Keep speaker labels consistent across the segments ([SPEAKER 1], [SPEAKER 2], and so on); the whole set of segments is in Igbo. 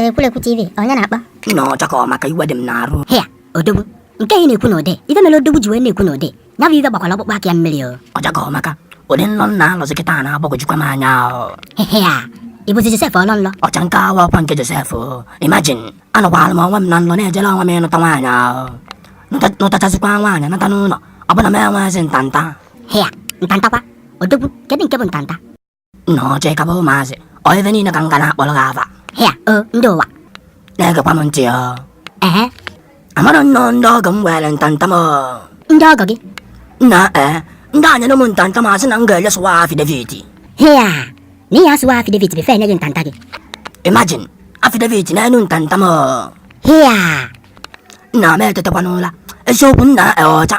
[SPEAKER 1] ekwulekwu tv onye na-akpọ nna ọchaka ọ maka
[SPEAKER 2] iwe dị m n'arụ hịa
[SPEAKER 1] odogwu nke ị na-ekwu n'ude ife mere odogwu ji wee na-ekwu n'ude ya bụ ife gbakwara ọkpụkpụ aka ya mmiri o ọchaka ọ maka
[SPEAKER 2] ụdị nlọ m na-alọzi kịta a na-agbagwojukwa m anya o.
[SPEAKER 1] hịa ị bụzi josef ọlọ nlọ ọcha nke awa ọkwa
[SPEAKER 2] nke josef o. imagine anọkwara m onwe m na nlọ na-ejere onwe m ịnụta nwaanyị ahụ Nụta- nụtachazikwa nwaanyị nata n'ụlọ ọbụna m enweghịzi ntanta hịa
[SPEAKER 1] ntantakwa odogwu kedu nke bụ ntanta nna
[SPEAKER 2] ọchaka bụ ụmụazị ọ ife niile ka m ga na-akpọrọ gị afa hịa o ndị
[SPEAKER 1] ụwa na-egekwa
[SPEAKER 2] m ntị ọ ehe
[SPEAKER 1] amara
[SPEAKER 2] m na ọ ndị ọgọ m weere ntanta m ndị ọgọ gị
[SPEAKER 1] nna ee
[SPEAKER 2] ndị a nyere m ntanta m a sị na m ga-eje swear afidevit
[SPEAKER 1] hịa na ị ya-aswear afidevit before e nye gị ntanta gị
[SPEAKER 2] imajin afidevit n'elu ntanta m hịa nna m etetakwa n'ụla eziokwu nna ọcha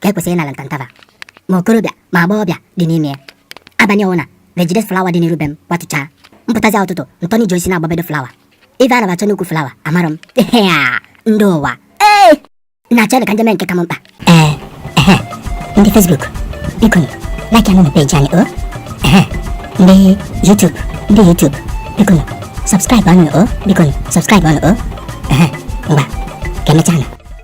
[SPEAKER 1] ka e kwesịrị ịnara ntanta fa ma okorobịa ma agbọghọbịa dị n'ime ya abalị ọbụna fa ejide flawa dị n'iru be m kwatụchaa m pụtazie ụtụtụ ntọni ji osisi na-agbabedo flawa ife a na-achọ n'ukwu flawa amarọ m ndị ụwa ee nna ọchaka m jee mee nke ka m mkpa ee ndị fesbuk biko like anụ na peji anyị o ndị yutub ndị yutub biko subscribe anụ o biko subscribe anụ o ngwa ka e mechaa